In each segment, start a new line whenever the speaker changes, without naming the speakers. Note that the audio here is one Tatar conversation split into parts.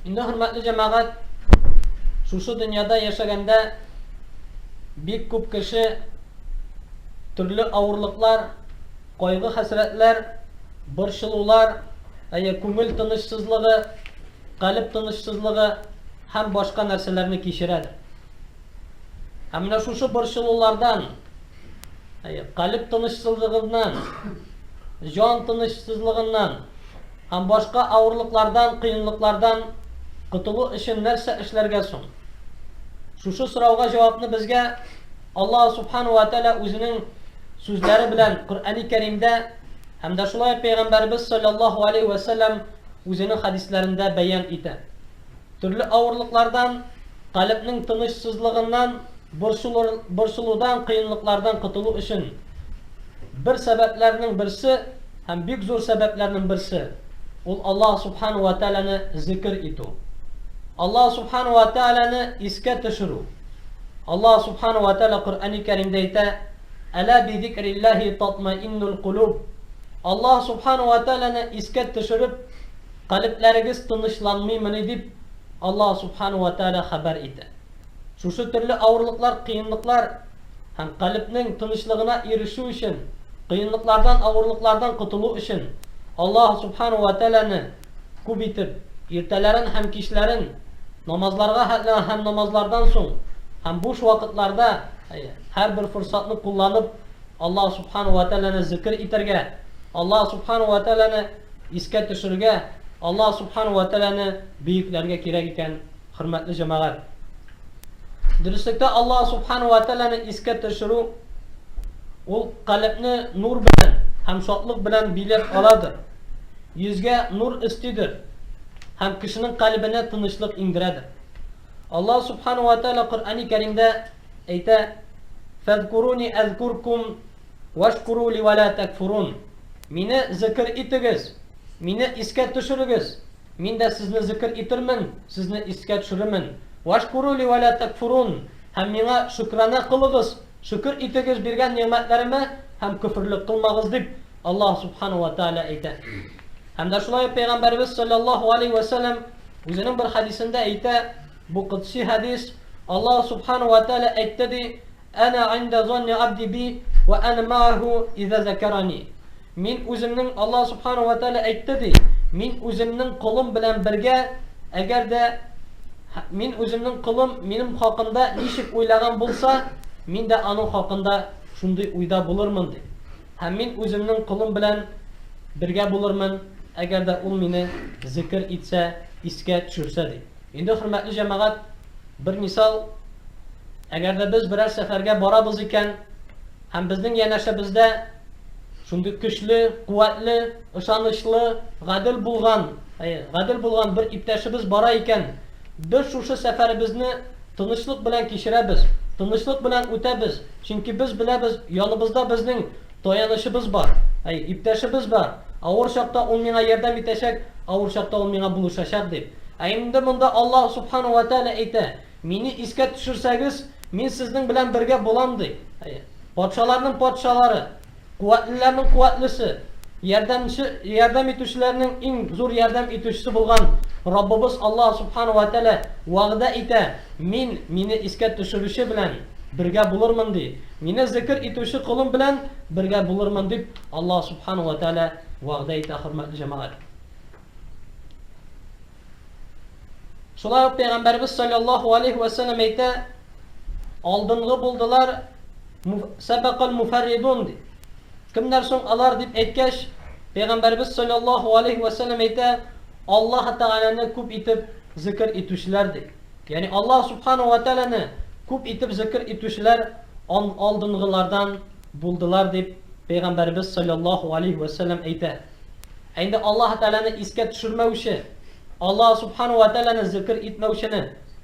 Инде хөрмәтле җәмәгать, шушы дөньяда яшәгәндә бик күп кеше төрле авырлыклар, кайгы-хәсрәтләр, борчылулар, әйе, күңел тынычсызлыгы, калеб тынычсызлыгы һәм башка нәрсәләрне кичерәдер. Ә менә шушы борчылулардан, әйе, калеб тынычсызлыгыннан, җан тынычсызлыгыннан Һәм башка авырлыклардан, кыенлыклардан котылу өчен нәрсә эшләргә соң? Шушы сорауга җавапны безгә Аллаһ Субхану ва Тәгалә үзенең сүзләре белән Коръәни Кәримдә һәм дә шулай ук Пәйгамбәребез салләллаһу алейһи вә сәлләм үзенең хәдисләрендә бәян итә. Төрле авырлыклардан, калебнең тынычсызлыгыннан, борчылудан, кыенлыклардан котылу өчен бер сәбәпләрнең берсе һәм бик зур сәбәпләрнең берсе, ул Аллаһ Субхана уә Тәгаләне зикер итү, Аллаһ Субхана уә Тәгаләне искә төшерү. Аллаһ Субхана уә Тәгалә Коръәни Кәримдә әйтә, Әлә бизикрилләһи татмаиннулкулүб, Аллаһ Субхана уә Тәгаләне искә төшереп, Калебләрегез тынычланмыймыни дип, Аллаһ Субхана уә Тәгалә хәбәр итә. Шушы төрле авырлыклар, кыенлыклар һәм калебнең тынычлыгына ирешү өчен, кыенлыклардан, авырлыклардан котылу өчен Аллаһ Субхана уә Тәгаләне күп итеп, иртәләрен һәм кичләрен, намазларга һә һәм намазлардан соң һәм буш вакытларда, һәрбер форсатны кулланып, Аллаһ Субхана уә Тәгаләне зекер итәргә, Аллаһ Субхана уә Тәгаләне Искә төшерергә, Аллаһ Субхана уә Тәгаләне бөекләргә кирәк икән, хөрмәтле җәмәгать. Дөреслектә Аллаһ Субхана уә Тәгаләне искә төшерү ул калебне нур белән һәм шатлык белән биләп аладыр, йөзгә нур өстидер һәм кешенең калебенә тынычлык иңдерәдер. Аллаһ Субхана уә Тәгалә Коръәни Кәримдә әйтә, Фәзкуруни әзкуркум Вәшкуру ли вә лә тәкфурун Мине зекер итегез, Мине искә төшерегез, Мин дә сезне зекер итермен, сезне искә төшерермен, Вәшкуру ли вә лә тәкфурун Һәм Миңа шөкранә кылыгыз, шөкер итегез биргән нигъмәтләремә һәм көферлек кылмагыз, дип, Аллаһ Субхана вә Тәгалә әйтә. Һәм дә шулай ук Пәйгамбәребез салләллаһу алейһи вә сәлләм үзенең бер хәдисендә әйтә, бу котси хәдис, Аллаһ Субхана вә Тәгалә әйтте, ди, Әнә гында зонни абди би вә әнә мәгәһү изә зәкәрани. Мин үземнең, Аллаһ Субханәһү вә Тәгалә әйтте, ди, мин үземнең колым белән бергә, әгәр дә мин үземнең колым минем хакында ничек уйлаган булса, мин дә аның хакында шундый уйда булырмын, ди. Һәм мин үземнең колым белән бергә булырмын, әгәр дә ул мине зикер итсә, искә төшерсә, ди. Инде, хөрмәтле җәмәгать, Бер мисал, әгәр дә без берәр сәфәргә барабыз икән һәм безнең янәшәбездә шундый көчле, куәтле, ышанычлы, гадел булган, әйе, гадел булган бер иптәшебез бара икән, без шушы сәфәребезне тынычлык белән кичерәбез, тынычлык белән үтәбез, чөнки без беләбез, яныбызда безнең Таянычыбыз бар, әй, иптәшебез бар, авыр чакта ул миңа ярдәм итәчәк, авыр чакта ул миңа булышачак дип. Ә инде монда Аллаһ Субхана вә Тәгалә әйтә, Мине искә төшерсәгез, Мин сезнең белән бергә булам, ди. Әй, патшаларның Патшалары, куәтлеләрнең Куәтлесе, ярдәмче, ярдәм итүчеләрнең иң зур ярдәм итүчесе булган Раббыбыз Аллаһ Субхана вә Тәгалә вәгъдә итә, Мин Мине искә төшерүче белән бергә булырмын, ди. Мине зекер итүче колым белән бергә булырмын, дип Аллаһ Сүбхәнәһү вә Тәгалә вәгъдә итә, хөрмәтле җәмәгать. Шулай ук Пәйгамбәребез салләллаһу алейһи вә сәлләм әйтә, Алдынгы булдылар сәбәкәл муфәрридун, ди. Кемнәр соң алар, дип әйткәч, Пәйгамбәребез салләллаһу алейһи вә сәлләм әйтә, Аллаһ Тәгаләне күп итеп зекер итүчеләр, ди. Ягъни Аллаһ Сүбхәнәһү вә Тәгаләне күп итеп зикер итүчеләр алдынгылардан булдылар дип Пәйгамбәребез салләллаһу галәйһи вә сәлләм әйтә. Ә инде Аллаһ Тәгаләне искә төшермәүче, Аллаһ Сүбхәнәһү вә Тәгаләне зикер итмәүчене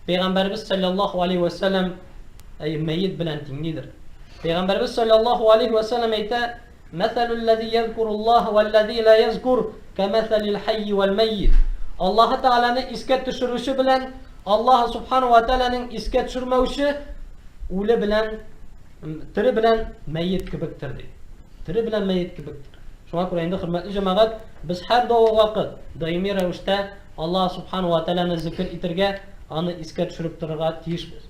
Пәйгамбәребез салләллаһу галәйһи вә сәлләм мәет белән тиңлидер. Пәйгамбәребез салләллаһу галәйһи вә сәлләм әйтә, Мәсәлү лләзи йәзкуру Аллаһа вә лләзи лә йәзкур кәмәсәлил хәййи вәл мәйит. Аллаһы Тәгаләне искә төшерүче белән Аллаһы Сүбхәнәһү вә Тәгаләнең искә төшермәүче үле белән тере белән мәет кебектер, ди. Тере белән мәет кебектер. Шуңа күрә инде, хөрмәтле җәмәгать, без һәр дәвам вакыт, даими рәвештә Аллаһы Сүбхәнәһү вә Тәгаләне зикер итәргә, аны искә төшереп торырга тиешбез.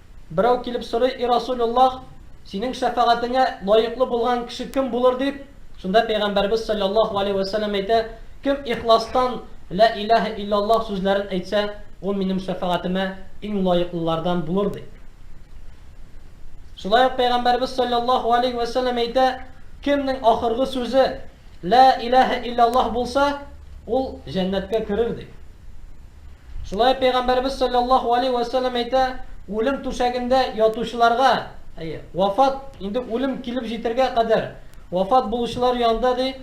Берәү килеп сорый, И Расулуллаһ! Синең шәфәгатеңә лаеклы булган кеше кем булыр? дип, шунда Пәйгамбәребез салләллаһу галәйһи вә сәлләм әйтә, Кем ихластан Лә иләһә илләллаһ сүзләрен әйтсә, ул минем шәфәгатемә иң лаеклылардан булыр, ди. Шулай ук Пәйгамбәребез салләллаһу галәйһи вә сәлләм әйтә, Кемнең ахыргы сүзе Лә иләһә илләллаһ булса, ул җәннәткә керер, ди. Шулай ук Пәйгамбәребез салләллаһу алейһи вә сәлләм әйтә, Үлем түшәгендә ятучыларга, әйе, вафат, инде үлем килеп җитәргә кадәр вафат булучылар янында, ди,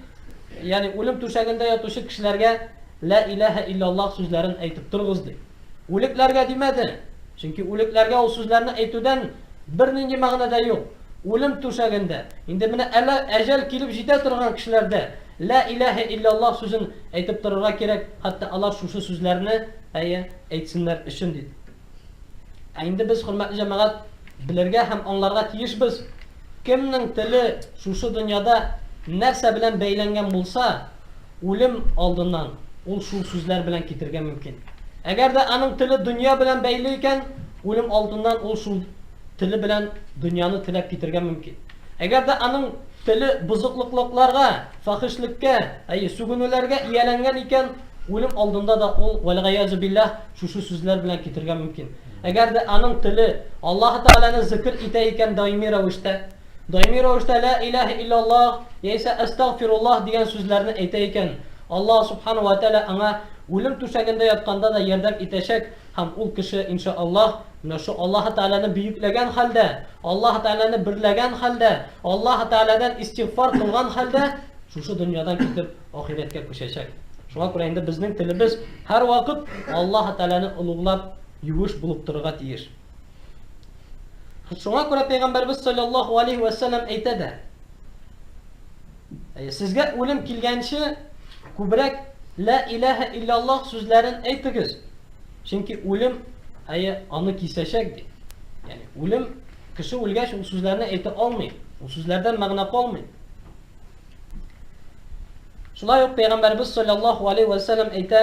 ягъни үлем түшәгендә ятучы кешеләргә Лә иләһә илляллаһ сүзләрен әйтеп торыгыз, ди. Үлекләргә димәде, чөнки үлекләргә ул сүзләрне әйтүдән бернинди мәгънә дә юк. Үлем түшәгендә, инде менә әле әҗәл килеп җитә торган кешеләрдә Лә иләһә илляллаһ сүзен әйтеп торырга кирәк, хәтта алар шушы сүзләрне, әйе, әйтсеннәр өчен дип. Ә инде без, хөрмәтле җәмәгать, белергә һәм аңларга тиешбез, кемнең теле шушы дөньяда нәрсә белән бәйләнгән булса, үлем алдыннан ул шул сүзләр белән китергә мөмкин. Әгәр дә аның теле дөнья белән бәйле икән, үлем алдыннан ул шул теле белән дөньяны теләп китергә мөмкин. Әгәр дә аның теле бозыклыклыкларга, фахишлеккә, әйе, сүгенүләргә ияләнгән икән, үлем алдында да ул, вәлгаяз билләһ, шушы сүзләр белән китергә мөмкин. Әгәр дә аның теле Аллаһ Тәгаләне зикр итә икән даими рәвештә, даими рәвештә лә иләһ иллаллаһ яисә әстәгъфируллаһ дигән сүзләрне әйтә икән, Аллаһ Субхана вә Тәгалә аңа үлем түшәгендә ятканда да ярдәм итәчәк, Һәм ул кеше, инша Аллаһ, менә шул Аллаһы Тәгаләне бөекләгән хәлдә, Аллаһы Тәгаләне берләгән хәлдә, Аллаһы Тәгаләдән истигъфар кылган хәлдә шушы дөньядан китеп, ахирәткә күчәчәк. Шуңа күрә инде безнең телебез һәрвакыт Аллаһы Тәгаләне олуглап, юеш булып торырга тиеш. Шуңа күрә Пәйгамбәребез салләллаһу галәйһи вә сәлләм әйтә дә, Сезгә үлем килгәнче күбрәк Лә иләһә илляллаһ сүзләрен әйтегез, чөнки үлем, әйе, аны кисәчәк, ди. Ягъни үлем, кеше үлгәч, ул сүзләрне әйтә алмый, ул сүзләрдән мәгънә калмый. Шулай ук пәйгамбәрбез салләллаһу алейһи вә сәлләм әйтә,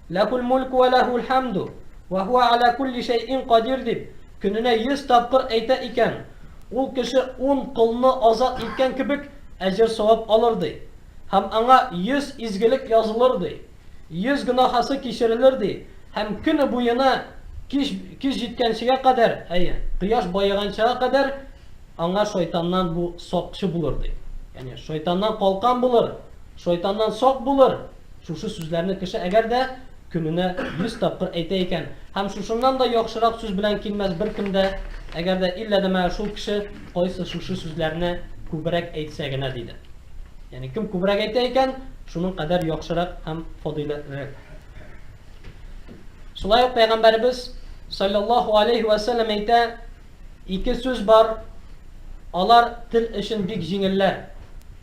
Ләһул мүлк вә ләһул хәмду, вә һуә гәлә кулли шәйин кадир дип көненә йөз тапкыр әйтә икән, ул кеше ун колны азат иткән кебек әҗер-савап алыр, ди. Һәм аңа йөз изгелек язылыр, ди. Йөз гөнаһасы кичерелер, ди, һәм көне буена кич кич җиткәнчегә кадәр, әйе, кояш баеганчыга кадәр аңа шайтаннан бу сакчы булыр, ди. Ягъни шайтаннан калкан булыр, шайтаннан сак булыр. Шушы сүзләрне кеше әгәр дә көненә йөз тапкыр әйтә икән, һәм шушыннан да яхшырак сүз белән килмәс беркем дә, әгәр дә иллә дә менә шул кеше кайсы шушы сүзләрне күбрәк әйтсә генә, диде. Ягъни кем күбрәк әйтә икән, шуның кадәр яхшырак һәм фадыйләтлерәк. Шулай ук пәйгамбәребез саллаллаху алейхи ва саллям әйтә, ике сүз бар, алар тел өчен бик җиңелләр.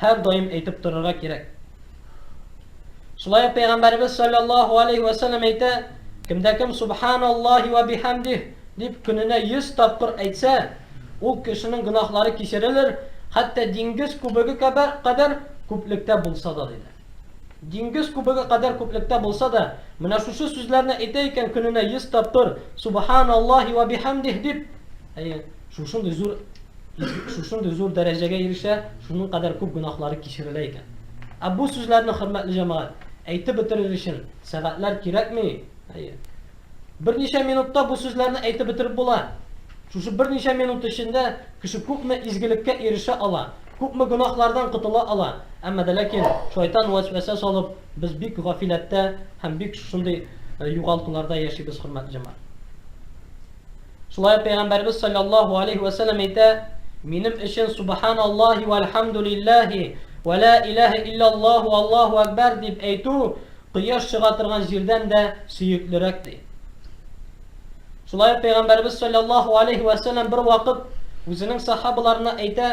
һәрдаим әйтеп торырга кирәк. Шулай ук пәйгамбәребез саллаллаһу алейһи вә сәлләм әйтә, кемдә кем субханаллаһи вә бихәмдих дип көненә 100 тапкыр әйтсә, ул кешенең гөнаһлары кичерелер, хәтта диңгез күбеге кадәр күплектә булса да, диде. Диңгез күбеге кадәр күплектә булса да, менә шушы сүзләрне әйтә икән көненә йөз тапкыр, Субхан Аллаһи вә биһәмдиһ дип, әйе, шушындый зур шушындый зур дәрәҗәгә ирешә, шуның кадәр күп гөнаһлары кичерелә икән. Ә бу сүзләрне, хөрмәтле җәмәгать, әйтеп бетерер өчен сәгатьләр кирәкми, әйе. Берничә минутта бу сүзләрне әйтеп бетереп була. Шушы берничә минут эчендә кеше күпме изгелеккә ирешә ала, күпме гөнаһлардан котыла ала, әмма дә ләкин шайтан вәсвәсә салып, без бик гафиләттә һәм бик шушындый югалтуларда яшибез, хөрмәтле җәмәгать. Шулай ук Пәйгамбәребез салләллаһу алейһи вә сәлләм әйтә, Минем өчен Субханаллаһи вәлхәмдүлилләһи вә лә иләһә илләллаһу Аллаһу әкбәр дип әйтү, Кояш чыга торган җирдән дә сөеклерәк, ди. Шулай ук Пәйгамбәребез салләллаһу алейһи вә сәлләм бервакыт үзенең сахабаларына әйтә,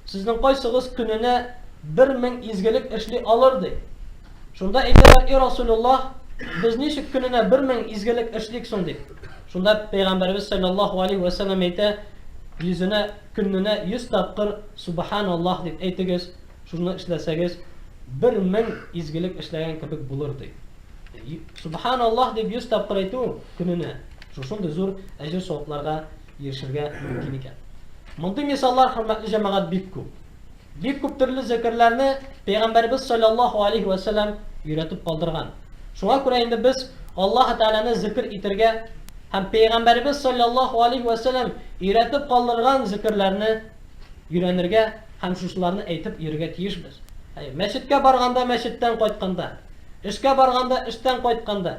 Сезнең кайсыгыз көненә бер мең изгелек эшли алыр? ди. Шунда әйтәләр, И Расулуллаһ, без ничек көненә бер мең изгелек эшлик соң? дип. Шунда Пәйгамбәребез салләллаһу алейһи вә сәлләм әйтә, Йөзенә, көненә йөз тапкыр Субханаллаһ дип әйтегез, Шуны эшләсәгез, бер мең изгелек эшләгән кебек булыр, ди. Сөбханаллаһ дип 100 тапкыр әйтү көненә шушындый зур әҗер-савапларга ирешергә мөмкин икән. Мондый мисаллар, хөрмәтле җәмәгать, бик күп. Бик күп төрле зекерләрне Пәйгамбәребез саллаллаһу алейһи вә сәлләм өйрәтеп калдырган. Шуңа күрә инде без Аллаһ Тәгаләне зикр итәргә һәм Пәйгамбәребез саллаллаһу алейһи вә сәлләм өйрәтеп калдырган зекерләрне өйрәнергә һәм шушыларны әйтеп йөрергә тиешбез. Әйе, мәчеткә барганда, мәчеттән кайтканда, эшкә барганда, эштән кайтканда,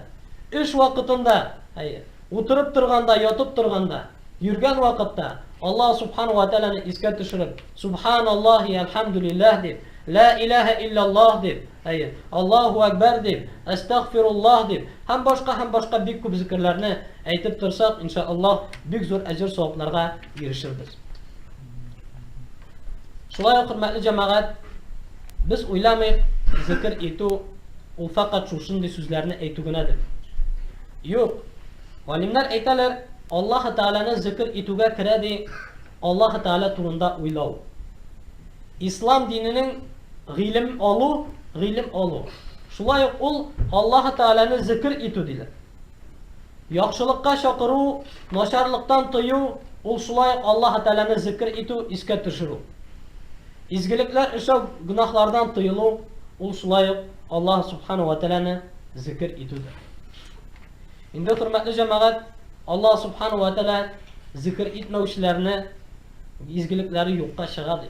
эш вакытында, әйе, утырып торганда, ятып торганда, йөргән вакытта Аллаһ Субхана уа Тәгаләне искә төшереп, Субханаллаһи әлхәмдүлилләһ дип, Лә иләһә илләллаһ дип, әйе, Аллаһу әкбәр дип, Әстәгъфируллаһ дип һәм башка һәм башка бик күп зикерләрне әйтеп торсак, иншаАллаһ, бик зур әҗер-савапларга ирешербез. Шулай ук, хөрмәтле җәмәгать, без уйламыйк, зикер итү ул фәкать шушындый сүзләрне әйтү генәдер. Юк. Галимнәр әйтәләр, Аллаһ Тәгаләне зикер итүгә керә ди, Аллаһ Тәгалә турында уйлау. Ислам диненең гыйлем алу, гыйлем алу. Шулай ук ул Аллаһ Тәгаләне зикер итү диләр. Яхшылыкка чакыру, начарлыктан тыю, ул шулай ук Аллаһы Тәгаләне зикер итү, искә төшерү. Изгелекләр эшләү, гөнаһлардан тыелу, ул шулай ук Аллаһы Субхана уә Тәгаләне зикер итүдер. Инде хөрмәтле җәмәгать, Аллаһ Субхана уә Тәгалә зикер итмәүчеләрне изгелекләре юкка чыга ди.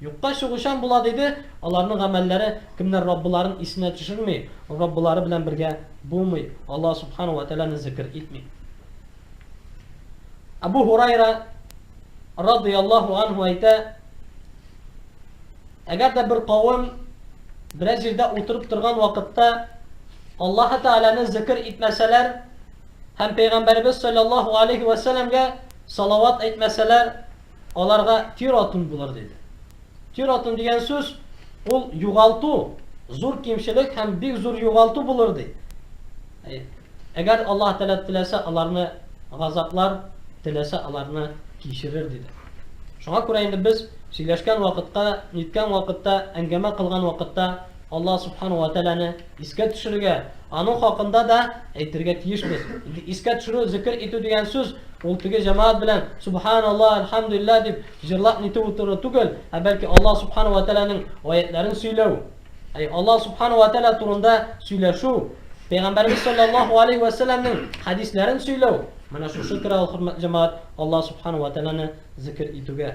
Юкка чыгучан була, диде, аларның гамәлләре, кемнәр Раббыларын исенә төшерми, Раббылары белән бергә булмый, Аллаһ Субхана вә Тәгаләне зикер итми. Әбу Һурайра радый Аллаһу анһу әйтә, әгәр дә бер кавым берәр җирдә утырып торган вакытта Аллаһы Тәгаләне зикер итмәсәләр һәм Пәйгамбәребез саллаллаһу алейхи вә сәләмгә салават әйтмәсәләр, Аларга тир-атун булыр, диде. Тир-атун дигән сүз, ул югалту, зур кимчелек һәм бик зур югалту булыр, ди. Әгәр Аллаһ Тәгалә теләсә, аларны газаплар, теләсә, аларны кичерер, диде. Шуңа күрә инде без сөйләшкән вакытка, ниткән вакытта, әңгәмә кылган вакытта, Аллаһ Субхана уә Тәгаләне искә төшерергә, аның хакында да әйтергә тиешбез. Искә төшерү, зикер итү дигән сүз, ул теге җәмәгать белән Субханаллаһ, Әлхәмдүлилләһ дип җырлап нитеп утыру түгел, ә бәлки Аллаһ Субхана уә Тәгаләнең аятләрен сөйләү. Әй Аллаһ Субхана уә Тәгалә турында сөйләшү, Пәйгамбәребез салләллаһу алейһи вә сәлләмнең хәдисләрен сөйләү, менә шушы керә ул, хөрмәтле җәмәгать, Аллаһ Субхана уә Тәгаләне зикер итүгә.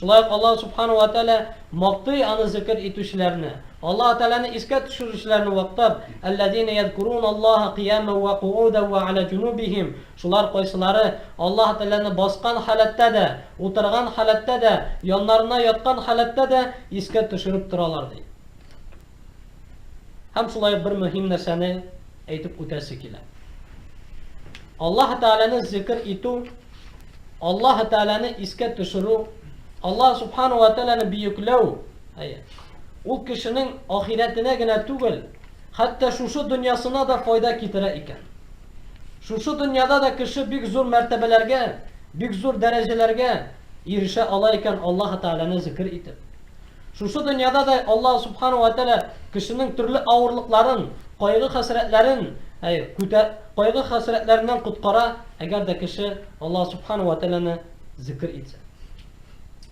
Шулай ук Аллаһ Сүбхәнәһү вә Тәгалә мактый Аны зикер итүчеләрне. Аллаһ Тәгаләне искә төшерүчеләрне мактап, Әлләзинә язкуруналлаһа кыямән вә кугудән вә галә җунубихим, шулар кайсылары Аллаһ Тәгаләне баскан халәттә дә, утырган халәттә дә, яннарына яткан халәттә дә искә төшереп торалар, ди. Һәм шулай ук бер мөһим нәрсәне әйтеп үтәсе килә. Аллаһ Тәгаләне зикр итү, Аллаһ Тәгаләне искә төшерү, Аллаһ Субхану ва Тәгаләне бөекләү, ул кешенең ахирәтенә генә түгел, хәтта шушы дөньясына да файда китерә икән. Шушы дөньяда да кеше бик зур мәртәбәләргә, бик зур дәрәҗәләргә ирешә ала икән Аллаһ Тәгаләне зикр итеп. Шушы дөньяда да Аллаһ Сүбхәнәһү вә Тәгалә кешенең төрле авырлыкларын, кайгы-хәсрәтләрен күтә, кайгы-хәсрәтләреннән коткара, әгәр дә кеше Аллаһ Сүбхәнәһү вә Тәгаләне зикер итсә.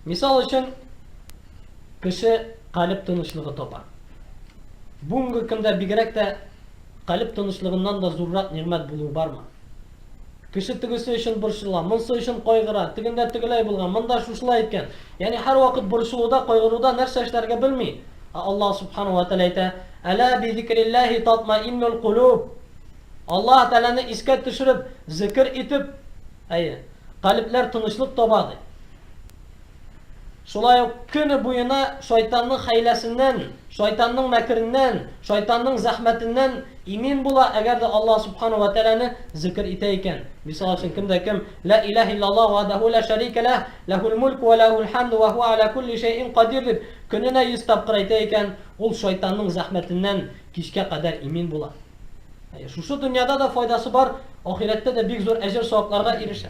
Мисал өчен, кеше калеб тынычлыгы таба. Бүгенге көндә бигрәк тә калеб тынычлыгыннан да зуррак нигъмәт булуы бармы? Кеше тегесе өчен борчыла, монсы өчен кайгыра, тегендә тегеләй булган, монда шушылай иткән. Ягъни һәрвакыт борчылуда, кайгыруда нәрсә эшләргә белми. Ә Аллаһ Субханаһу ва Тәгалә әйтә, Әлә бизикрилләһи татмаиннул кулуб. Аллаһ Тәгаләне искә төшереп, зикер итеп, әйе, калебләр тынычлык таба, ди. Шулай ук көне буена шайтанның хәйләсеннән, шайтанның мәкереннән, шайтанның зәхмәтеннән имин була, әгәр дә Аллаһ Субхана вә Тәгаләне зикер итә икән. Мисал өчен, кем дә кем, Лә иләһә илляллаһ вәһдәһү лә шәрикә ләһ, ләһул мүлк вә ләһул хәмд вә һуә әлә кулли шәйин кадир дип, көненә йөз тапкыр әйтә икән, ул шайтанның зәхмәтеннән кичкә кадәр имин була. Әйе, шушы дөньяда да файдасы бар, ахирәттә дә бик зур әҗер-савапларга ирешә.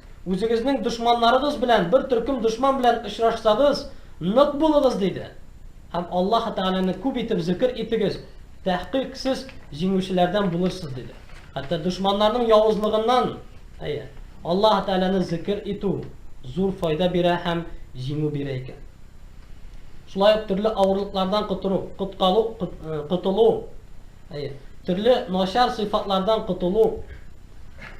Үзегезнең дошманнарыгыз белән бер төркем дошман белән очрашсагыз, нык булыгыз, диде. Һәм Аллаһы Тәгаләне күп итеп зикер итегез, тәхкыйк, сез җиңүчеләрдән булырсыз, диде. Хәтта дошманнарның явызлыгыннан, әйе, Аллаһы Тәгаләне зикер итү зур файда бирә һәм җиңү бирә икән. Шулай ук төрле авырлыклардан котыру, коткалу, котылу, әйе, төрле начар сыйфатлардан котылу,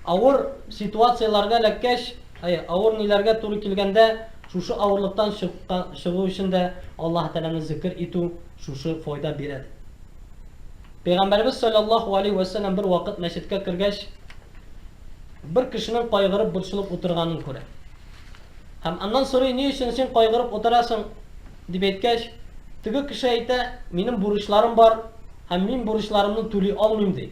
Авыр ситуацияләргә эләккәч, әй, авыр ниләргә туры килгәндә, шушы авырлыктан чыкка, чыгу өчен дә Аллаһы Тәгаләне зикер итү шушы файда бирә, ди. Пәйгамбәребез салләллаһу галәйһи вә сәлләм бер вакыт мәчеткә кергәч, бер кешенең кайгырып, борчылып утырганын күрә. Һәм аннан сорый, ни өчен син кайгырып утырасың? дип әйткәч, теге кеше әйтә, минем бурычларым бар, һәм мин бурычларымны түли алмыйм, ди.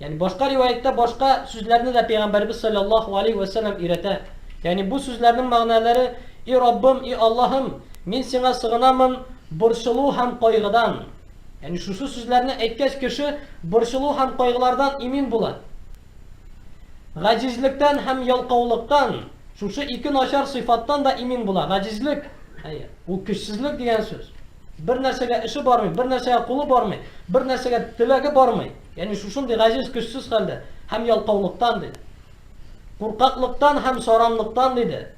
Ягъни башка риваятьтә башка сүзләрне дә пәйгамбәрбез саллаллаһу алейһи вә сәлләм өйрәтә. Ягъни бу сүзләрнең мәгънәләре, И Раббым, и Аллаһым, мин сиңа сыгынамын борчылу һәм кайгыдан. Ягъни шушы сүзләрне әйткәч кеше борчылу һәм кайгылардан имин була. Гаҗизлектән һәм ялкаулыктан, шушы ике начар сыйфаттан да имин була. Гаҗизлек, әйе, ул көчсезлек дигән сүз. Бер нәрсәгә эше бармый, бер нәрсәгә кулы бармый, бер нәрсәгә теләге бармый. Ягъни шушындый гаҗиз, көчсез хәлдә һәм ялкаулыктан, диде. Куркаклыктан һәм саранлыктан, диде,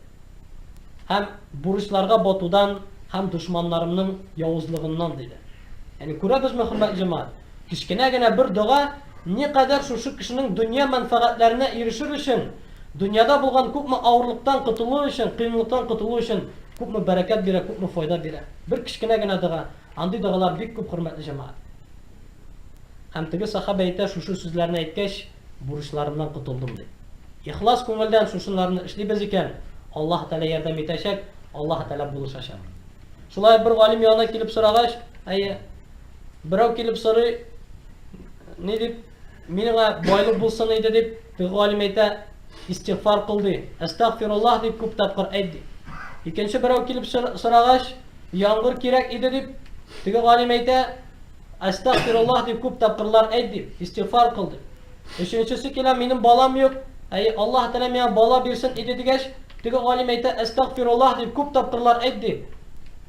һәм бурычларга батудан һәм дошманнарымның явызлыгыннан, диде. Ягъни күрәбезме, хөрмәтле җәмәгать, кечкенә генә бер дога никадәр шушы кешенең дөнья мәнфәгатьләренә ирешер өчен Дөньяда булган күпме авырлыктан котылу өчен, кыенлыктан котылу өчен күпме бәрәкәт бирә, күпме файда бирә. Бер кечкенә генә дога, андый догалар бик күп, хөрмәтле җәмәгать. Һәм теге сахабә әйтә, шушы сүзләрне әйткәч, бурычларымнан котылдым, ди. Ихлас күңелдән шушынларны эшлибез икән, Аллаһы Тәгалә ярдәм итәчәк, Аллаһы Тәгалә булышачак. Шулай ук бер галим янына килеп сорагач, әйе, берәү килеп сорый, ни дип, миңа байлык булсын иде, дип, Теге галим әйтә, Истигъфар кыл, ди. Әстәгъфируллаһ, дип күп тапкыр әйт, ди. Икенче берәү килеп сорагач, Яңгыр кирәк иде, дип, теге галим әйтә, Әстәгъфируллаһ, дип күп тапкырлар әйт, ди. Истигъфар кыл, ди. Өченчесе килә, Минем балам юк, әй, Аллаһ Тәгалә миңа бала бирсен иде, дигәч, теге галим әйтә, Әстәгъфируллаһ, дип күп тапкырлар әйт, ди.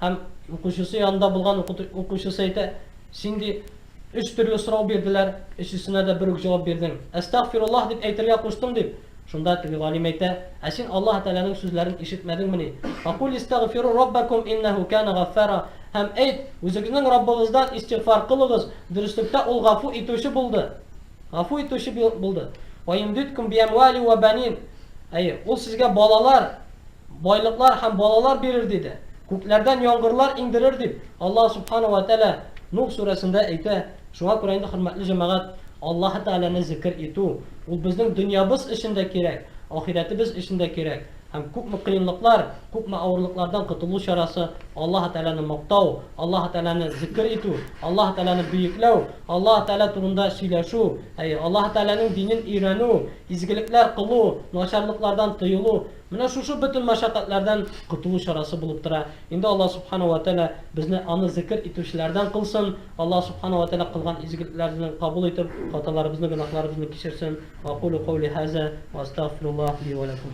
Һәм укучысы янында булган укучысы әйтә, Син, ди, Өч төрле сорау бирделәр, өчесенә дә бер үк җавап бирдең. Әстәгъфируллаһ дип әйтергә куштым, дип. Шунда теге галим әйтә, Ә син Аллаһы Тәгаләнең сүзләрен ишетмәдеңмени? Фәкуль истәгъфиру раббәкум иннәһү кәнә гаффара, һәм әйт, Үзегезнең Раббыгыздан истигъфар кылыгыз, дөреслектә Ул гафу итүче булды, гафу итүче булды. Вәйөмдидкүм биәмуәли уә бәнин, әйе, Ул сезгә балалар, байлыклар һәм балалар бирер, диде. Күкләрдән яңгырлар иңдерер, дип, Аллаһ Субхана вә Тәгалә Нух сүрәсендә әйтә. Шуңа күрә инде, хөрмәтле җәмәгать, Аллаһы Тәгаләне зикер итү, ул безнең дөньябыз өчен дә кирәк, ахирәтебез өчен дә кирәк. Һәм күпме кыенлыклар, күпме авырлыклардан котылу чарасы, Аллаһы Тәгаләне мактау, Аллаһы Тәгаләне зикер итү, Аллаһы Тәгаләне бөекләү, Аллаһы Тәгалә турында сөйләшү, әйе, Аллаһы Тәгаләнең динен өйрәнү, Изгелекләр кылу, начарлыклардан тыелу, менә шушы бөтен мәшәкатьләрдән котылу чарасы булып тора. Инде Аллаһ Субхана уә Тәгалә безне Аны зекер итүчеләрдән кылсын, Аллаһ Субхана уә Тәгалә кылган изгелекләрне кабул итеп, хаталарыбызны, гөнаһларыбызны кичерсен. Ва акулу каули һаза, ва астәгъфируллаһ ли ва ләкум.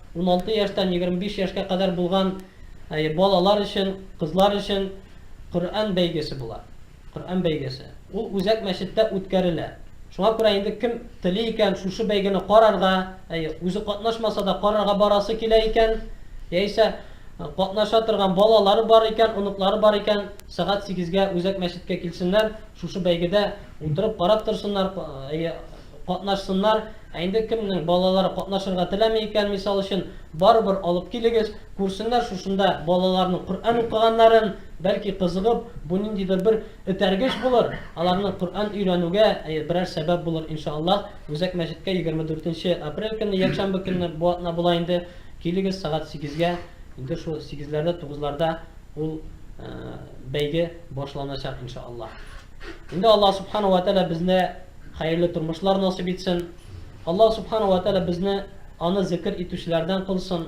Уналты яшьтән егерме биш яшькә кадәр булган балалар өчен, кызлар өчен Коръән бәйгесе була. Коръән бәйгесе. Ул үзәк мәчеттә үткәрелә. Шуңа күрә инде кем тели икән шушы бәйгене карарга, үзе катнашмаса да карарга барасы килә икән, яисә катнаша торган балалары бар икән, оныклары бар икән, сәгать сигезгә үзәк мәчеткә килсеннәр, шушы бәйгедә утырып карап торсыннар. Катнашсыннар, ә инде кемнең балалары катнашырга теләми икән, мисал өчен, барыбер алып килегез, күрсеннәр шушында балаларның Коръән укыганнарын, бәлки кызыгып, бу ниндидер бер этәргеч булыр, аларның Коръән өйрәнүгә берәр сәбәп булыр, иншааллаһ. Үзәк мәчеткә егерме дүртенче апрель көнне, якшәмбе көнне бу атна була инде, килегез сәгать сигезгә, инде шул сигезләрдә, тугызларда ул бәйге башланачак, иншааллаһ. Инде Аллаһ Субхана уә Тәгалә безне Хәерле тормышлар насыйп итсен. Аллаһ Субхана уә Тәгалә безне аны зекер итүчеләрдән кылсын.